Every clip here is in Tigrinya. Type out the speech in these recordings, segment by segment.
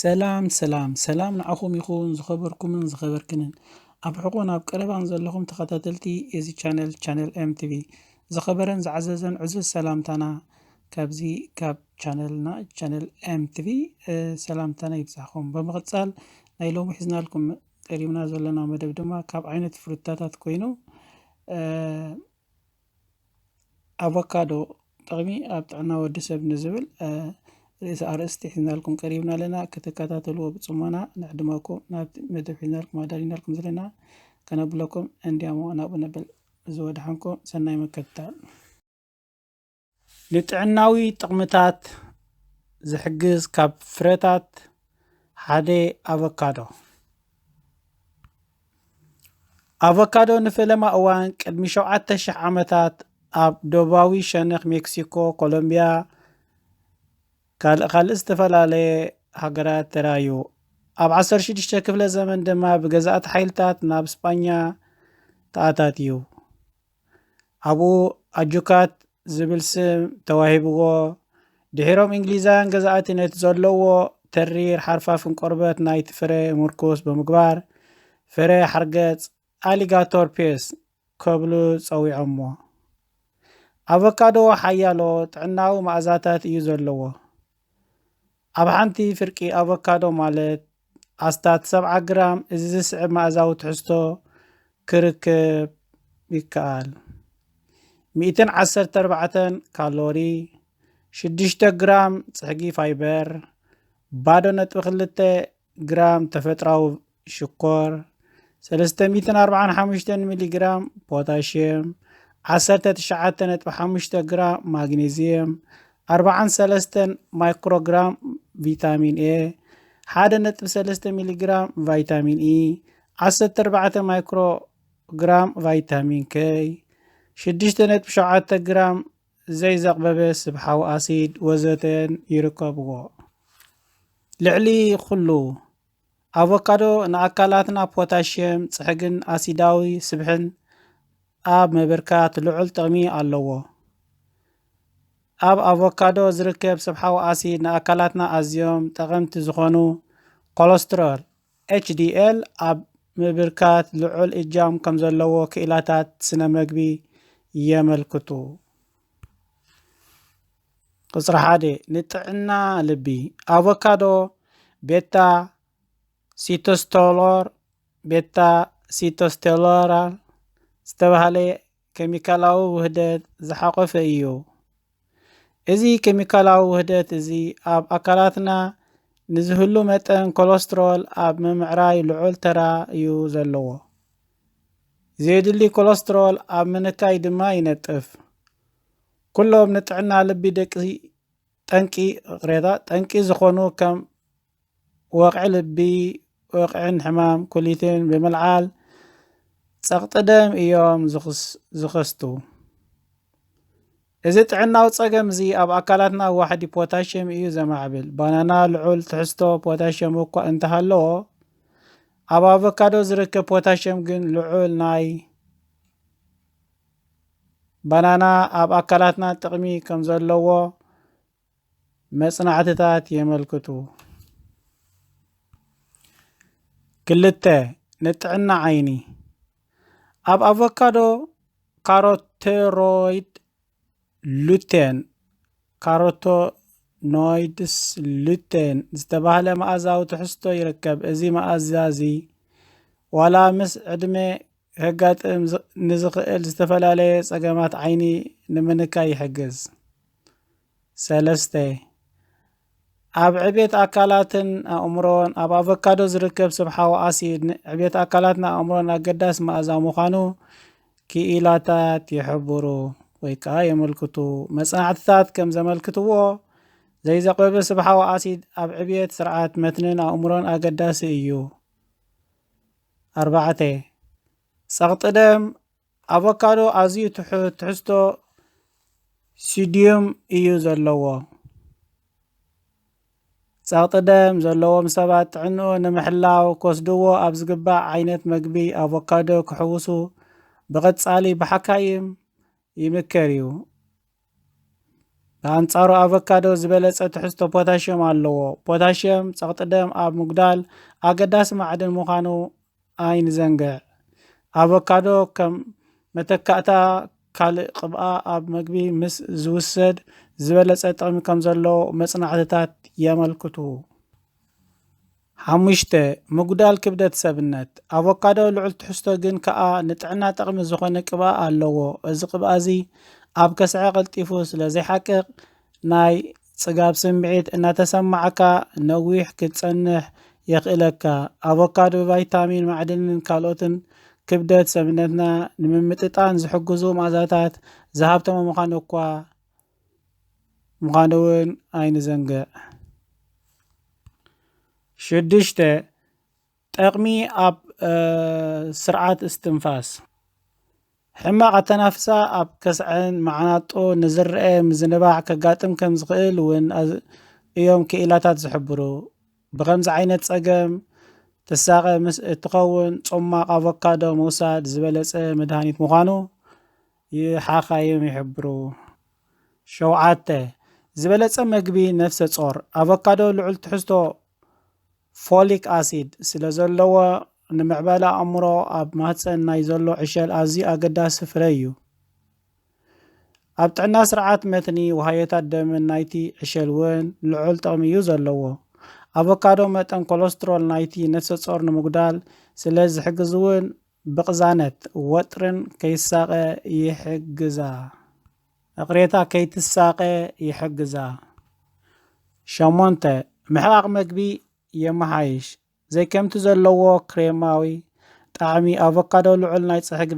ሰላም ሰላም ሰላም ንዓኹም ይኹን ዝኸበርኩምን ዝኸበርክንን ኣብ ሕቆን ኣብ ቀረባን ዘለኹም ተኸታተልቲ እዚ ቻነል ቻነል ኤምቲቪ ዝኸበረን ዝዓዘዘን ዕዙዝ ሰላምታና ካብዚ ካብ ቻነልና ቻነል ኤምቲቪ ሰላምታና ይብዛኹም ብምቕጻል ናይ ሎሚ ሒዝናልኩም ቀሪብና ዘለና መደብ ድማ ካብ ዓይነት ፍሩታታት ኮይኑ ኣቮካዶ ጥቕሚ ኣብ ጥዕና ወዲ ሰብ ንዝብል ርእሰ ኣርእስቲ ሒዝናልኩም ቀሪብና ኣለና ክትከታተልዎ ብፅሞና ንዕድመኩም ናብቲ መደብ ሒዝናልኩም ኣዳሊናልኩም ዘለና ከነብለኩም እንዲያሞ ናብኡ ነብል እዚ ወድሓንኩም ሰናይ ምክትታል ንጥዕናዊ ጥቕምታት ዝሕግዝ ካብ ፍረታት ሓደ ኣቮካዶ ኣቮካዶ ንፈለማ እዋን ቅድሚ ሸውዓተ ሽሕ ዓመታት ኣብ ደቡባዊ ሸነኽ ሜክሲኮ፣ ኮሎምብያ፣ ካልእ ካልእ ዝተፈላለየ ሃገራት ተራእዩ። ኣብ 16 ክፍለ ዘመን ድማ ብገዛእቲ ሓይልታት ናብ ስጳኛ ተኣታትዩ። ኣብኡ ኣጁካት ዝብል ስም ተዋሂብዎ። ድሒሮም ኢንግሊዛውያን ገዛእቲ ነቲ ዘለዎ ተሪር ሓርፋፍን ቆርበት ናይቲ ፍረ ምርኩስ ብምግባር ፍረ ሓርገጽ ኣሊጋቶር ፔስ ከብሉ ጸዊዖሞ። ኣቮካዶ ሓያሎ ጥዕናዊ መኣዛታት እዩ ዘለዎ። ኣብ ሓንቲ ፍርቂ ኣቮካዶ ማለት ኣስታት ሰብዓ ግራም እዚ ዝስዕብ መኣዛዊ ትሕዝቶ ክርከብ ይከኣል። ሚእትን ዓሰርተ ኣርባዕተን ካሎሪ፣ ሽዱሽተ ግራም ጽሕጊ ፋይበር፣ ባዶ ነጥቢ ክልተ ግራም ተፈጥራዊ ሽኮር፣ ሰለስተ ሚእትን ኣርብዓን ሓሙሽተን ሚሊ ግራም ፖታሽየም፣ ዓሰርተ ትሽዓተ ነጥቢ ሓሙሽተ ግራም ማግኔዝየም፣ ኣርብዓን ሰለስተን ማይክሮግራም ቪታሚን ኤ፣ ሓደ ነጥቢ ሰለስተ ሚሊ ግራም ቫይታሚን ኢ፣ ዓሰርተ ኣርባዕተ ማይክሮግራም ቫይታሚን ከይ፣ ሽዱሽተ ነጥቢ ሸውዓተ ግራም ዘይዘቕበበ ስብሓዊ ኣሲድ ወዘተን ይርከብዎ። ልዕሊ ኹሉ ኣቮካዶ ንኣካላትና ፖታሽየም፣ ጽሕግን ኣሲዳዊ ስብሕን ኣብ ምብርካት ልዑል ጥቕሚ ኣለዎ። ኣብ ኣቮካዶ ዝርከብ ስብሓዊ ኣሲድ ንኣካላትና ኣዝዮም ጠቐምቲ ዝኾኑ ኮለስትሮል፣ ኤችዲኤል ኣብ ምብርካት ልዑል እጃም ከም ዘለዎ ክኢላታት ስነ መግቢ የመልክቱ። ቁፅሪ ሓደ ንጥዕና ልቢ ኣቮካዶ ቤታ ሲቶስቶሎር ቤታ ሲቶስቴሎራል ዝተባህለ ኬሚካላዊ ውህደት ዝሓቆፈ እዩ። እዚ ኬሚካላዊ ውህደት እዚ ኣብ ኣካላትና ንዝህሉ መጠን ኮለስትሮል ኣብ ምምዕራይ ልዑል ተራ እዩ ዘለዎ። ዘየድሊ ኮለስትሮል ኣብ ምንካይ ድማ ይነጥፍ። ኩሎም ንጥዕና ልቢ ደቂ ጠንቂ ቅሬታ ጠንቂ ዝኾኑ ከም ወቕዒ ልቢ፣ ወቕዒን ሕማም ኩሊትን ብምልዓል ጸቕጢ ደም እዮም ዝኸስቱ። እዚ ጥዕናዊ ጸገም እዚ ኣብ ኣካላትና ዋሕዲ ፖታሽየም እዩ ዘማዕብል። ባናና ልዑል ትሕዝቶ ፖታሽየም እኳ እንተሃለዎ ኣብ ኣቮካዶ ዝርከብ ፖታሽየም ግን ልዑል ናይ ባናና ኣብ ኣካላትና ጥቕሚ ከም ዘለዎ መጽናዕትታት የመልክቱ። ክልተ፣ ንጥዕና ዓይኒ ኣብ ኣቮካዶ ካሮቴሮይድ ሉቴን ካሮቶ ኖይድስ ሉቴን ዝተባህለ መኣዛዊ ትሕዝቶ ይርከብ። እዚ መኣዛ እዚ ዋላ ምስ ዕድመ ከጋጥም ንዝኽእል ዝተፈላለየ ጸገማት ዓይኒ ንምንካይ ይሕግዝ። ሰለስተ፣ ኣብ ዕቤት ኣካላትን ኣእምሮን ኣብ ኣቮካዶ ዝርከብ ስብሓዊ ኣሲድ ንዕቤት ኣካላትን ኣእምሮን ኣገዳሲ መኣዛ ምዃኑ ክኢላታት ይሕብሩ ወይ ከኣ የመልክቱ። መጽናዕትታት ከም ዘመልክትዎ ዘይዘቕበበ ስብሓዊ ኣሲድ ኣብ ዕብየት ስርዓት መትንን ኣእምሮን ኣገዳሲ እዩ። ኣርባዕተ። ጸቕጢ ደም ኣቮካዶ ኣዝዩ ትሑት ትሕዝቶ ሲድዩም እዩ ዘለዎ። ጸቕጢ ደም ዘለዎም ሰባት ጥዕንኡ ንምሕላው ክወስድዎ ኣብ ዝግባእ ዓይነት መግቢ ኣቮካዶ ክሕውሱ ብቐጻሊ ብሓካይም ይምከር እዩ። ብኣንጻሩ ኣቮካዶ ዝበለጸ ትሕዝቶ ፖታሽየም ኣለዎ። ፖታሽየም ጸቕጢ ደም ኣብ ምጉዳል ኣገዳሲ ማዕድን ምዃኑ ኣይንዘንግዕ። ኣቮካዶ ከም መተካእታ ካልእ ቅብኣ ኣብ መግቢ ምስ ዝውሰድ ዝበለጸ ጥቕሚ ከም ዘለዎ መጽናዕትታት የመልክቱ። ሓሙሽተ፣ ምጉዳል ክብደት ሰብነት፣ ኣቮካዶ ልዑል ትሕዝቶ ግን ከኣ ንጥዕና ጠቕሚ ዝኾነ ቅብኣ ኣለዎ። እዚ ቅብኣ እዚ ኣብ ከስዐ ቀልጢፉ ስለ ዘይሓቅቕ ናይ ጽጋብ ስምዒት እናተሰማዓካ ነዊሕ ክትጸንሕ የኽእለካ። ኣቮካዶ ብቫይታሚን፣ ማዕድንን ካልኦትን ክብደት ሰብነትና ንምምጥጣን ዝሕግዙ መኣዛታት ዝሃብተመ ምዃኑ እኳ፣ ምዃኑ እውን ኣይንዘንግዕ። ሽዱሽተ፣ ጠቕሚ ኣብ ስርዓት እስትንፋስ ሕማቕ ኣተናፍሳ ኣብ ከስዐን መዓናጦ ንዝረአ ምዝንባዕ ከጋጥም ከም ዝኽእል እውን እዮም ክኢላታት ዝሕብሩ። ብኸምዚ ዓይነት ጸገም ትሳቐ ምስ እትኸውን ጾማቕ ኣቮካዶ ምውሳድ ዝበለጸ መድሃኒት ምዃኑ ይሓኻ እዮም ይሕብሩ። ሸውዓተ፣ ዝበለጸ መግቢ ነፍሰጾር፣ ኣቮካዶ ልዑል ትሕዝቶ ፎሊክ ኣሲድ ስለዘለዎ፣ ንምዕባለ ኣእምሮ ኣብ ማህጸን ናይ ዘሎ ዕሸል ኣዝዩ ኣገዳሲ ፍረ እዩ። ኣብ ጥዕና ስርዓት መትኒ ውሃዮታት ደምን ናይቲ ዕሸል እውን ልዑል ጥቕሚ እዩ ዘለዎ። ኣቮካዶ መጠን ኮለስትሮል ናይቲ ነፍሰጾር ንምጉዳል ስለዝሕግዝ እውን ብቕዛነት ወጥርን ከይሳቐ ይሕግዛ። እቕሬታ ከይትሳቐ ይሕግዛ። ሸሞንተ፣ ምሕቓቕ መግቢ የመሓይሽ። ዘይከምቲ ዘለዎ ክሬማዊ ጣዕሚ ኣቮካዶ ልዑል ናይ ጽሕጊ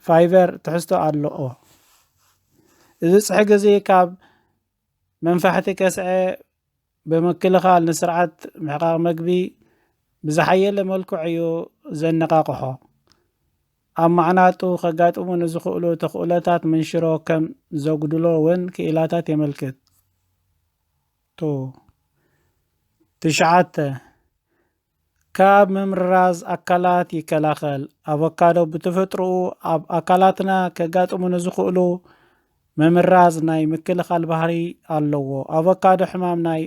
ፋይበር ትሕዝቶ ኣለኦ። እዚ ጽሕጊ እዚ ካብ መንፋሕቲ ከስዐ ብምክልኻል ንስርዓት ምሕቓቕ መግቢ ብዝሓየለ መልክዑ እዩ ዘነቓቕሖ። ኣብ ማዕናጡ ከጋጥሙ ንዝኽእሉ ተኽእሎታት መንሽሮ ከም ዘጉድሎ እውን ክኢላታት የመልክቱ። ትሽዓተ። ካብ ምምርራዝ ኣካላት ይከላኸል። ኣቮካዶ ብተፈጥሮኡ ኣብ ኣካላትና ከጋጥሙ ንዝኽእሉ ምምርራዝ ናይ ምክልኻል ባህሪ ኣለዎ። ኣቮካዶ ሕማም ናይ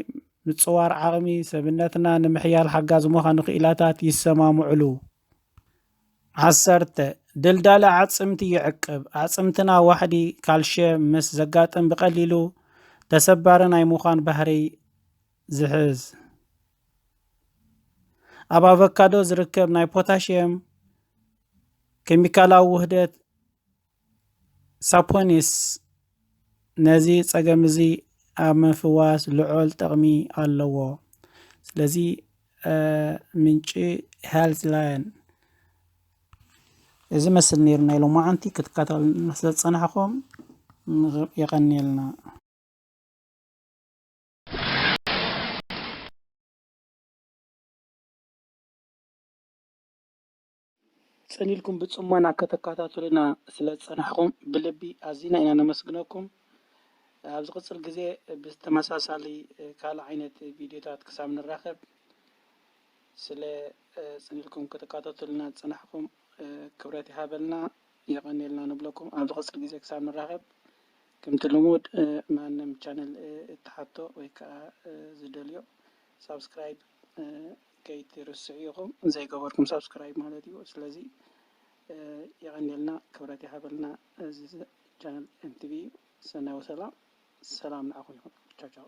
ምጽዋር ዓቕሚ ሰብነትና ንምሕያል ሓጋዚ ምዃኑ ክኢላታት ይሰማምዑሉ። ዓሰርተ፣ ድልዳለ ኣዕጽምቲ ይዕቅብ። ኣዕጽምትና ዋሕዲ ካልሽየም ምስ ዘጋጥም ብቐሊሉ ተሰባሪ ናይ ምዃን ባህርይ ዝሕዝ። ኣብ ኣቮካዶ ዝርከብ ናይ ፖታሽየም ኬሚካላዊ ውህደት ሳፖኒስ ነዚ ጸገም እዚ ኣብ ምፍዋስ ልዑል ጥቕሚ ኣለዎ። ስለዚ ምንጪ ሄልዝ ላየን እዚ መስል ነይሩ ናይ ሎማዓንቲ ክትከታተሉ ስለዝፀናሕኹም የቐንየልና። ጽን ኢልኩም ብጽሞና ከተካታትሉና ስለ ዝጸናሕኩም ብልቢ ኣዚና ኢና ነመስግነኩም። ኣብ ዝቕጽል ግዜ ብተመሳሳሊ ካልእ ዓይነት ቪድዮታት ክሳብ ንራኸብ ስለ ጽን ኢልኩም ከተካታትሉና ዝጸናሕኩም ክብረት ይሃበልና የቐንየልና ንብለኩም። ኣብ ዝቕጽል ግዜ ክሳብ ንራኸብ ከምቲ ልሙድ ማንም ቻነል እትሓቶ ወይ ከኣ ዝደልዮ ሳብስክራይብ ከይትርስዑ ኢኹም ዘይገበርኩም ሳብስክራይብ ማለት እዩ ስለዚ የቐንየልና ክብረት ይሃበልና እዚ ቻነል MTV እዩ ሰናይ ወሰላ ሰላም ንዓኹም ይኹን ቻው ቻው